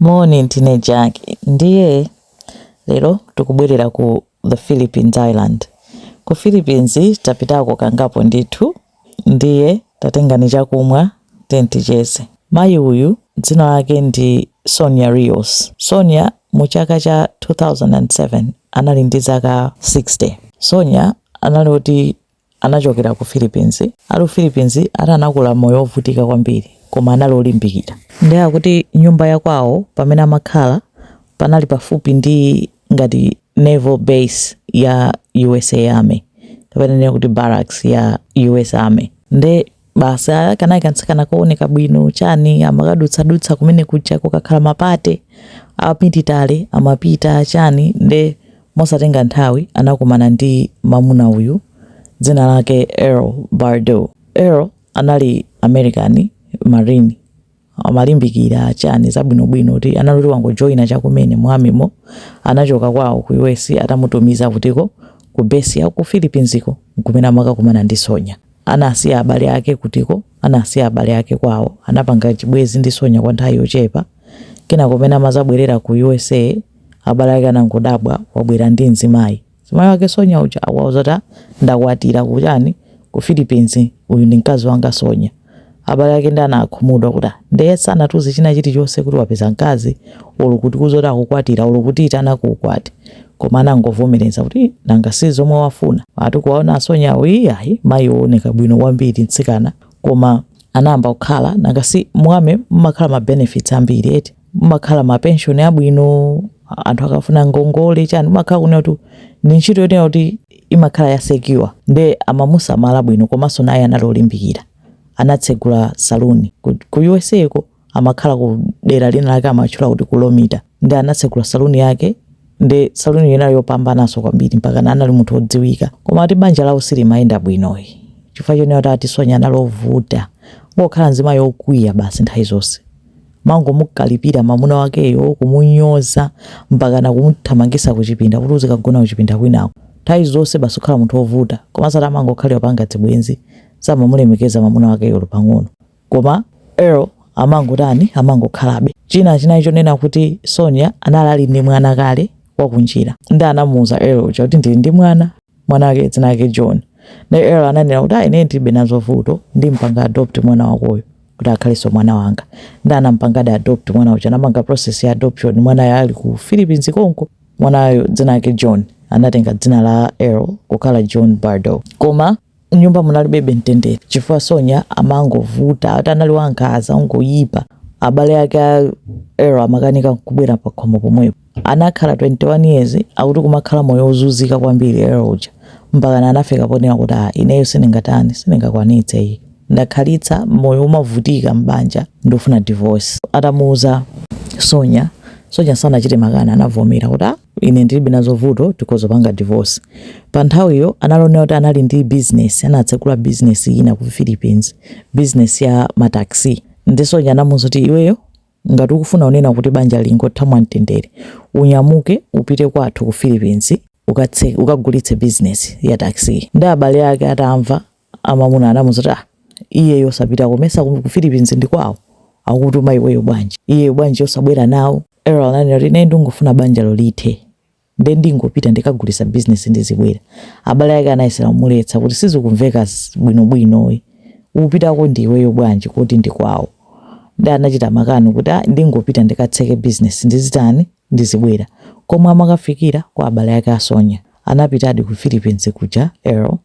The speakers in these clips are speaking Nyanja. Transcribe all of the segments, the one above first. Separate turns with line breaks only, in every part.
Moni, ndine Jack. Ndiye lero tikubwerera ku the Philippines Island. Ku Philippines tapitako kangapo ndithu, ndiye tatengani chakumwa tenti ticheze. Mayi uyu dzina lake ndi Sonia Rios. Sonia mu chaka cha 2007 anali ndi zaka 60. Sonia anali oti Anachokera ku Philippines. Ali ku Philippines, ati anakula moyo wovutika kwambiri koma anali olimbikira. Ndiye akuti nyumba ya kwawo pamene amakhala panali pafupi ndi ngati naval base ya usa army kapena tinene kuti barracks ya usa army. Ndiye. basi ah, kanali kantsikana kooneka bwino chani amakadutsadutsa kumene kuja kukakhala mapate apiti tale amapita chani nde mosatenga nthawi anakumana ndi mamuna uyu dzina lake Earl Bardo. Earl anali American Marine amalimbikira chani zabwinobwino ati anali oti wangojoyina chakumene mu army mo anachoka kwawo ku US atamutumiza kutiko ku base ya ku Philippines ko nkumene amakakumana ndi Sonya anasiya abale ake kutiko anasiya abale ake kwawo anapanga chibwezi ndi Sonya kwa nthawi yochepa kenako mmene amazabwerera ku USA abale ake anangodabwa wabwera ndi mzimayi Mzimayi wake Sonya uja akuwauza kuti, ah, ndakwatira ku chani ku Philippines, uyu ndi mkazi wanga Sonya. Abale ake nde anakhumudwa kuti, ah, nde sanatiuze china chilichonse kuti wapeza mkazi olo kutiuza kuti akukwatira olo kutiitana ku ukwati. Koma anangovomereza kuti, ii, nanga si zomwe wafuna. Ati kuwaona a Sonya awo, ii, ayi, mayi wooneka bwino kwambiri mtsikana, koma anayamba kukhala, nanga si mu army mumakhala ma benefits ambiri eti. mumakhala ma pension abwino a- anthu akafuna ngongole chani umakhala kunena kuti ndi ntchito yonena kuti imakhala ya secure nde amamusamala bwino komanso naye anali olimbikira anatsegula saluni ku, ku usa ko amakhala ku dera lina lake amatchula kuti ku Lomita nde anatsegula saluni yake nde saluni yake inali yopambananso kwambiri mpakana anali munthu wodziwika koma ati banja lawo silimayenda bwinoyi chifukwa chonena kuti ati Sonya anali ovuta ngokhala nzimayi wokwiya basi nthawi zonse kumangomukalipira mamuna wakeyo kumunyoza mpakana kumuthamangisa kuchipinda kuti uzikagona kuchipinda kwinako nthawi zonse basi kukhala munthu wovuta komanso ati amangokhalira kupanga dzibwenzi samamulemekeza mamuna wakeyo olo pang'ono koma earl amangotani amangokhalabe china chinali chonena kuti sonia anali ali ndi mwana kale wakunjira nde anamuuza earl uja kuti ndili ndi mwana Mwana wake dzina lake John. Naye Earl ananena kuti, ah, ine ndilibe nazo vuto, ndimpanga adopt mwana wakoyo kuti akhalenso mwana wanga. Nde anampangadi adopt mwana uja, anapanga process ya adoption mwanayo ali ku Philippines konko. Mwanayo dzina lake John anatenga dzina la Earl kukhala John Bardo. Koma nyumba munalibebe mtendere chifukwa Sonya amangovuta ati anali wankhaza ngoyipa abale ake a Earl amakanika kubwera pakhomo pomwepo anakhala 21 years akuti kumakhala moyo wozunzika kwambiri Earl uja mpakana anafika ponena kuti a ineyo sindingatani sindingakwanitse iyi ndakhalitsa moyo omavutika mbanja ndofuna divorce atamuuza Sonya Sonya sanachite makani anavomera kuti ine ndilibe nazo vuto tikhoza kupanga divorce. Pa nthawiyo anali onena kuti anali ndi business, anatsegula business ina ku Philippines, business ya ma taxi. Nde Sonya anamuuza kuti iweyo ngati ukufuna kunena kuti banja lingotha mwamtendere, unyamuke upite kwathu ku Philippines ukatse ukagulitse business ya taxi. Nde abale ake atamva amamuna anamuuza kuti ah iyeyo osapitako mesa ku Philippines ndi kwawo akukutuma iweyo bwanji iyeyo bwanji osabwera nawo Earl ananena kuti ine ndingofuna banjalo lithe nde ndingopita ndikagulitsa business ndizibwera abale ake anayesera kumuletsa kuti sizikumveka s- bwinobwino e. upitako ndi iweyo bwanji koti ndi kwawo nde anachita makani kuti "Ah, ndingopita ndikatseke business ndizitani ndizibwera koma amakafikira kwa abale ake a Sonya Anapitadi ku Philippines kuja Earl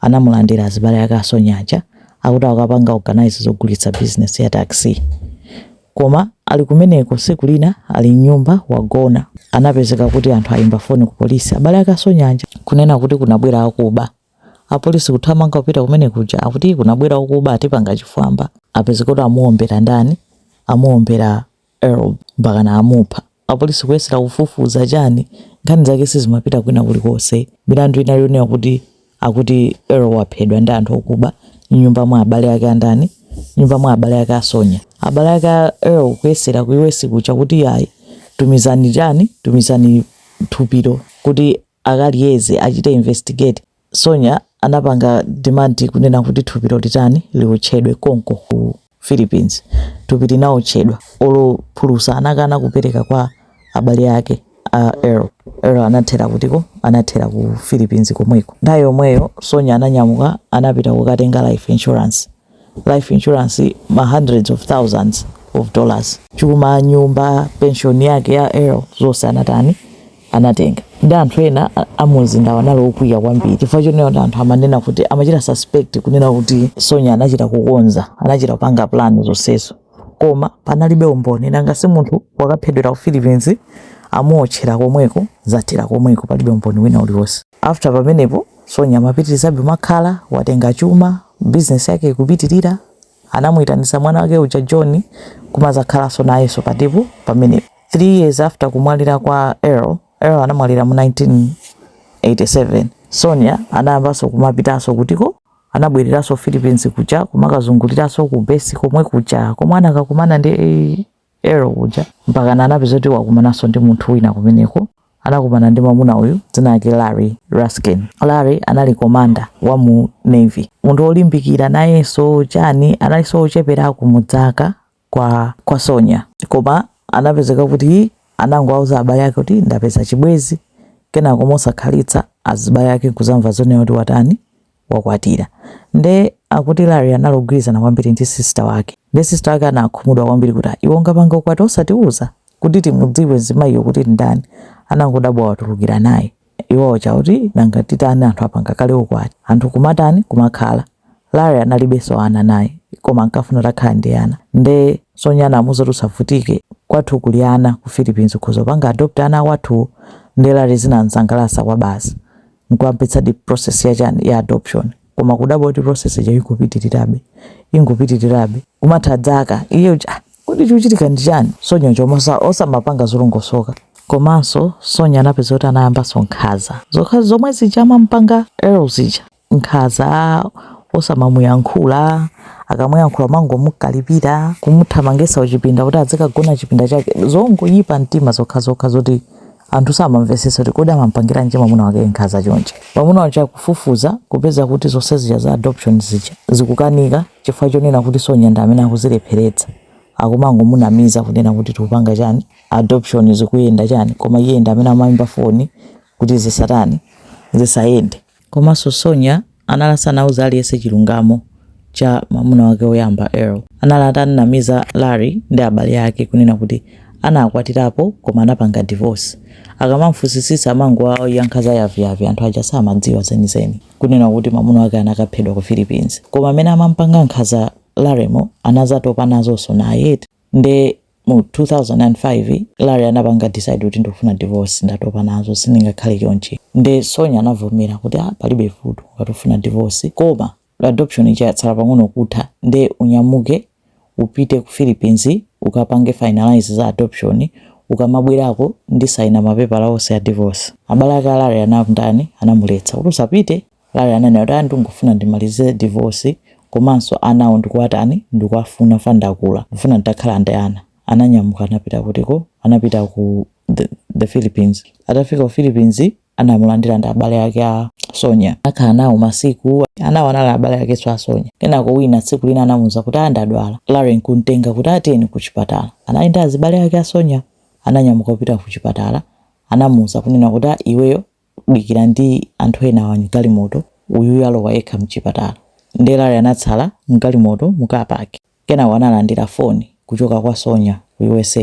anamulandira azibale ake a Sonya aja akuti akukapanga organise zogulitsa business ya taxi. Koma ali kumeneko tsiku lina ali mnyumba wagona anapezeka kuti anthu ayimba foni ku polisi abale ake a Sonya aja kunena kuti kunabwera akuba. Apolisi kuthamanga kupita kumene kuja akuti kunabwera okuba atipanga chifwamba. Apezeka kuti amuwombera ndani? Amuwombera Earl mpakana amupha. Apolisi kuyesera kufufuza chani? Nkhani zake sizimapita kwina kulikonse. Milandu inali yonena kuti akuti Earl waphedwa ndi anthu okuba m'nyumba mwa abale ake a ndani? M'nyumba mwa abale ake a Sonya. Abale ake a Earl kuyesera ku US kuja kuti ayi, tumizani chani, tumizani thupilo kuti akaliyeze achite investigate sonya anapanga demand kunena kuti thupilo litani liotchedwe konko ku philippines thupi linaotchedwa olo phulusa anakana kupereka kwa abale ake a Earl Earl anathera kuti ko anathera ku philippines komweko nthawi yomweyo sonya ananyamuka anapita kukatenga life insurance life insurance ma hundreds of thousands of dollars chuma nyumba pension yake ya Earl zonse anatani anatenga nde anthu ena a- amumzindawo anali okwiya kwambiri chifukwa chonena kuti anthu amanena kuti amachita suspect kunena kuti sonya anachita kukonza anachita kupanga plan zonsezo koma panalibe umboni nanga si munthu wakaphedwera ku philippines amuotchera komweko zathera komweko palibe umboni wina uliwonse after pamenepo Sonya amapitirizabe kumakhala, watenga chuma, business yake ikupitirira, anamuitanitsa mwana wake uja John kumadzakhalanso nayenso pa tepu pamenepo. 3 years after kumwalira kwa Earl, Earl anamwalira mu 1987, Sonya anayambanso kumapitanso kutiko anabwereranso Philippines kuja kumakazunguliranso ku base komwe kuja komwe anakakumana ndi Earl kuja mpakana anapeza kuti wakumananso ndi munthu wina kumeneko anakumana ndi mwamuna uyu dzina lake Larry Raskin. Larry anali komanda wa mu Navy, munthu wolimbikira nayenso chani, analinso wocheperako mu dzaka kwa, kwa Sonya, koma anapezeka kuti anangowauza abale ake kuti ndapeza chibwezi, kenako mosakhalitsa azibale ake nkudzamva zonena kuti watani wakwatira nde akuti Larry anali ogwirizana kwambiri ndi sister wake nde sister wake anakhumudwa kwambiri kuti iwe ungapange ukwati osatiuza kuti timudziwe mzimayiyo kuti ndani anangodabwa watulukira naye iwowo chakuti nanga titani anthu apanga kale ukwati anthu kumatani kumakhala Larry analibenso ana naye koma ankafuna takhala ndi ana nde Sonya anamuuza kuti usavutike kwathu kuli ana ku Philippines ukhoza kupanga adopt ana wathu nde Larry zinamsangalasa kwabasi nkuyambitsa di process ya chani ya adoption koma kudabwa kuti process ija ikupitirirabe ingopitirirabe kumatha dzaka iye ah, kuti chikuchitika ndi chani sonya chomwe osamapanga zolongosoka komanso sonya anapeza kuti anayambanso nkhaza zokhazi zomwe zija amampanga Earl zija nkhaza osamamuyankhula akamuyankhula mangomukalipira kumuthamangisa kuchipinda kuti adzikagona chipinda chake zongoyipa mtima zokhazokha zoti anthu samamvetsetsa kuti kodi amampangira nje mwamuna wake nkhaza chonje mwamuna uja kufufuza kupeza kuti zonse zija za adoption zija zikukanika chifukwa chonena kuti sonya ndi amene akuzilepheretsa akumangomunamiza kunena kuti tikupanga chani adoption zikuyenda chani koma iye ndi amene amayimba foni kuti zisatani zisayende Komanso Sonya anali asanauze aliyense chilungamo cha mwamuna wake woyamba, Earl. Anali atanamiza Larry ndi abale ake kunena kuti anakwatirapo koma anapanga divorce. Akamamufunsisitsa amangowayankha za yaviyavi anthu aja samadziwa zenizeni. Kunena kuti mwamuna wake anakaphedwa ku Philippines. Koma mmene amamupanga nkhaza Larrymo anazatopa nazonso naye eti. Nde Mu 2005 Larry anapanga decide kuti ndikufuna divorce ndatopa nazo sindingakhale chonchi nde Sonya anavomera kuti ah palibe vuto ngati ufuna divorce koma adoption ija yatsala pang'ono kutha nde unyamuke upite ku Philippines ukapange finalize za adoption ukamabwerako ndisayina mapepala onse a divorce. Abale ake a Larry anamtani? Anamuletsa kuti usapite Larry ananena kuti, ah ndikungofuna ndimalize divorce komanso anawo ndikuwatani ndikuwafuna chifukwa ndakula ndikufuna nditakhala ndi ana ananyamuka anapita kutiko anapita ku the the Philippines atafika ku Philippines anamulandira ndi abale ake a Sonya akhala nawo masiku anawo anali abale akenso a Sonya kenako wina tsiku lina anamuuza kuti ah ndadwala Larry nkuntenga kuti ah tiyeni ku chipatala anali ndi azibale ake a Sonya ananyamuka kupita ku chipatala anamuuza kunena kuti ah iweyo dikira ndi anthu enawa mgalimoto uyuyu alowa yekha mchipatala nde Larry anatsala mgalimoto mu car park kenako analandira phone kuchoka kwa Sonya ku usa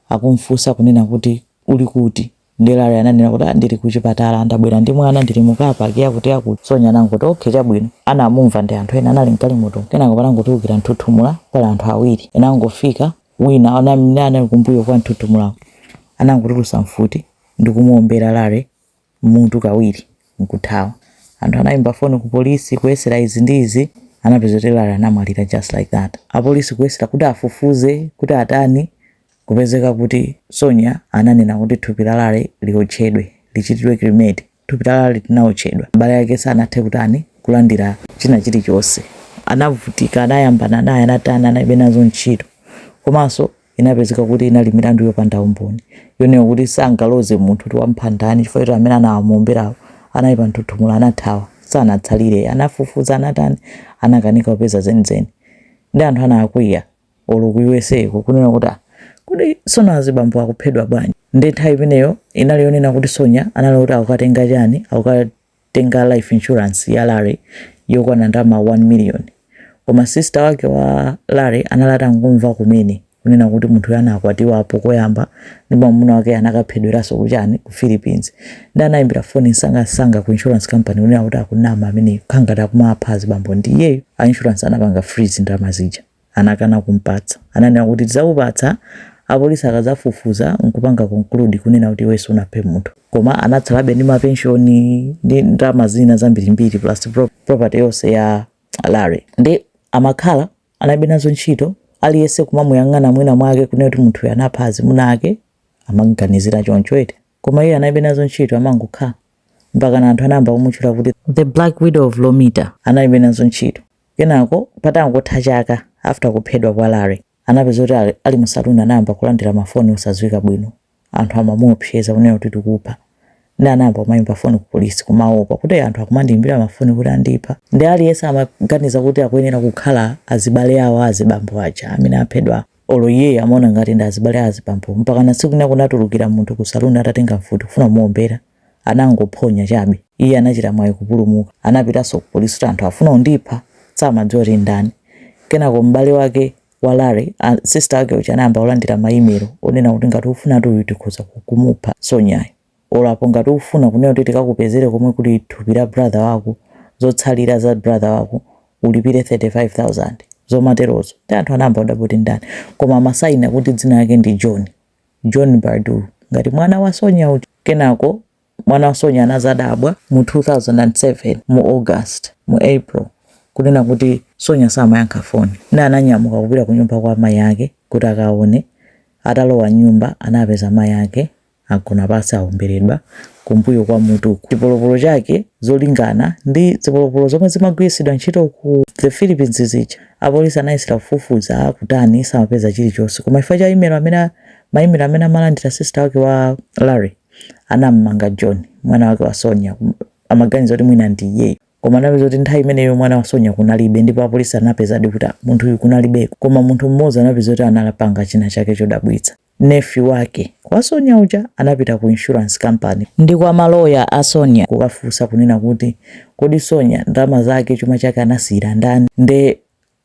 akumfunsa kunena kuti uli kuti nde Larry ananena kuti ah ndili kuchipatala ndabwera ndi mwana ndili mu car park yakuti yakuti Sonya anangoti okay chabwino anamumva ndi anthu ena anali mgalimoto kenako panangotulukira mthuthuthu pali anthu awiri anangofika wina anamene anali kumbuyo kwa mthuthuthuko anangotulusa mfuti ndikumuwombera Larry m'mutu kawiri n'kuthawa. Anthu anaimba foni kupolisi kuyesera izi ndi izi. Anapeza kuti Larry anamwalira just like that. Apolisi kuyesera kuti afufuze kuti atani kupezeka kuti Sonya ananena kuti thupi la Larry liwotchedwe, lichitidwe cremate. Thupi la Larry linawotchedwa. Abale ake sanathe kutani, kulandira china chilichonse. Anavutika, anayambana naye, anatani, analibe nazo ntchito. Komanso inapezeka kuti inali milandu yopanda umboni, yonena kuti sangaloze munthu kuti wamupha ndani chifukwa choti amene anamuomberawo anali pa mthuthuthu, anathawa, sanatsalire. Anafufuza, anatani, anakanika kupeza zenizeni. Ndi anthu anakwiya. olo ku usa ko kunena kuti ah, kodi sonya azibambo akuphedwa bwanji nde nthawi imeneyo inali yonena kuti sonya anali kuti akukatenga chani akukatenga life insurance ya larry yokwana ndalama 1 million koma sister wake wa larry anali atangomva kumene kunena kuti munthu uyu anakwatiwapo koyamba ndi mwamuna wake anakaphedweranso kuchani ku philippines nde anayimbira foni nsangasanga ku insurance company kunena kuti akunama amene akukhala ngati akumapha azibambo ndi iyeyo a insurance anapanga freeze ndalama zija anakana kumpatsa. Ananena kuti tizakupatsa apolisi akazafufuza nkupanga conclude kunena kuti iwe sunaphe munthu. Koma anatsalabe ndi ma pension ndi ndalama zina zambirimbiri plus property yonse ya Larry. Nde amakhala analibe nazo ntchito aliyese kumamuyang'ana mwina mwake kunena kuti munthu uyu anapha azimuna ake amamuganizira choncho eti. Koma iye analibe nazo ntchito amangokhala. Mpakana anthu anayamba kumutchula kuti the black widow of Lomita. Analibe nazo ntchito. Kenako patangotha chaka after kuphedwa kwa Larry, anapeza kuti ali, ali mu saloon anayamba kulandira ma phone osadziwika bwino, anthu amamuopseza kunena kuti tikupha, nde anayamba kumaimba phone ku police kumaopa kuti anthu akumandiimbira ma phone kuti andipha, nde aliyense amaganiza kuti akuyenera kukhala azibale awo a azibambo aja amene aphedwawo, olo iyeyo amaona ngati ndi azibale a azibambowo, mpakana tsiku lina kunatulukira munthu ku saloon atatenga mfuti kufuna kumuombera. anangophonya chabe iye anachita mwayi kupulumuka anapitanso ku police kuti anthu afuna kundipha samadziwa kuti ndani kenako m'bale wake wa Larry a, sister wake uja anayamba kulandira ma email onena kuti ngati ufunatu uyu tikhoza kumupha Sonyayo or apo ngati ufuna kunena kuti tikakupezere komwe kuli thupi la brother wako zotsalira za brother wako ulipire 35000 zomaterozo ndi anthu anayamba kudabwa kuti ndani koma amasayina kuti dzina lake ndi John John Bourdeau ngati mwana wa Sonya uja. Kenako mwana wa Sonya anazadabwa mu 2007 mu August, mu April kunena kuti Sonya samayankha foni. Nde ananyamuka kupita kunyumba kwa mayi ake kuti akaone. Atalowa m'nyumba anapeza mayi ake agona pansi awombeledwa kumbuyo kwa mutuku. Chipolopolo chake zolingana ndi zipolopolo zomwe zimagwiritsidwa ntchito ku the Philippines zija. Apolisi anayesera kufufuza kutani samapeza chilichonse koma chifukwa cha email amene ma email amene amalandira sister wake wa Larry anam'manga John mwana wake wa Sonya amaganiza kuti mwina ndi iyeyo koma anapeza kuti nthawi imeneyo mwana wa Sonya kunalibe ndipo apolisi anapezadi kuti munthuyu kunalibeko koma munthu mmodzi anapeza kuti anapanga china chake chodabwitsa. Nephew wake wa Sonya uja anapita ku insurance company ndi kwa ma lawyer a Sonya kukafunsa kunena kuti kodi Sonya ndalama zake chuma chake anasiyira ndani nde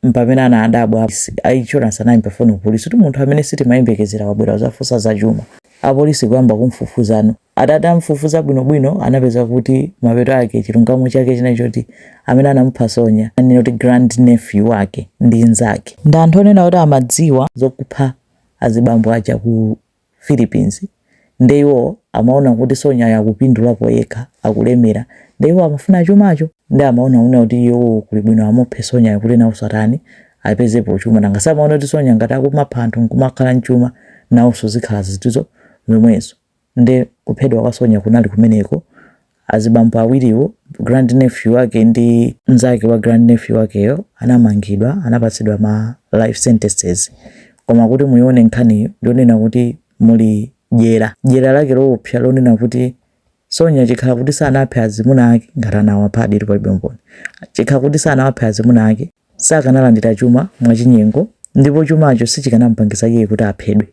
mpamene anadabwa a insurance anayimba foni ku polisi kuti munthu amene sitimayembekezera wabwera kuzafunsa za chuma. Apolisi kuyamba kumfufuza no. Atati amfufuza bwinobwino anapeza kuti mapeto ake chilungamo chake chinali choti amene anamupha Sonya anali not grand nephew wake ndi nzake ndi anthu onena kuti amadziwa zokupha azibambo aja ku Philippines nde iwo amaona kuti sonyayo akupindulapo yekha akulemera nde iwo amafuna chumacho nde amaona una kuti iwo kuli bwino amuphe sonyayo kuti nawonso atani apezepo chuma nanga si amaona kuti sonya ngati akumapha anthu nkumakhala nchuma nawonso zikhala ziti zomwezo Nde kuphedwa kwa Sonya kunali kumeneko. Azibambo awiriwo, grand nephew wake ndi mzake wa grand nephew wakeyo anamangidwa, anapatsidwa ma life sentences. Koma kuti muione nkhaniyi ndiyonena kuti muli dyera. Dyera lake loopsa lonena kuti Sonya chikhala kuti sanaphe azimuna ake ngati anawaphaditu palibe umboni. Chikhala kuti sanawaphe azimuna ake sakanalandira chuma mwachinyengo ndipo chumacho sichikanamupangitsa iye kuti aphedwe.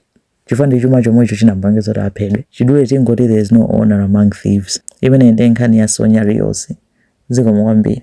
chifukwa ndi chuma chomwecho chinamupangitsa kuti aphedwe chidule tingoti there is no honor among thieves imeneyi ndiye nkhani ya sonya rios zikomo kwambiri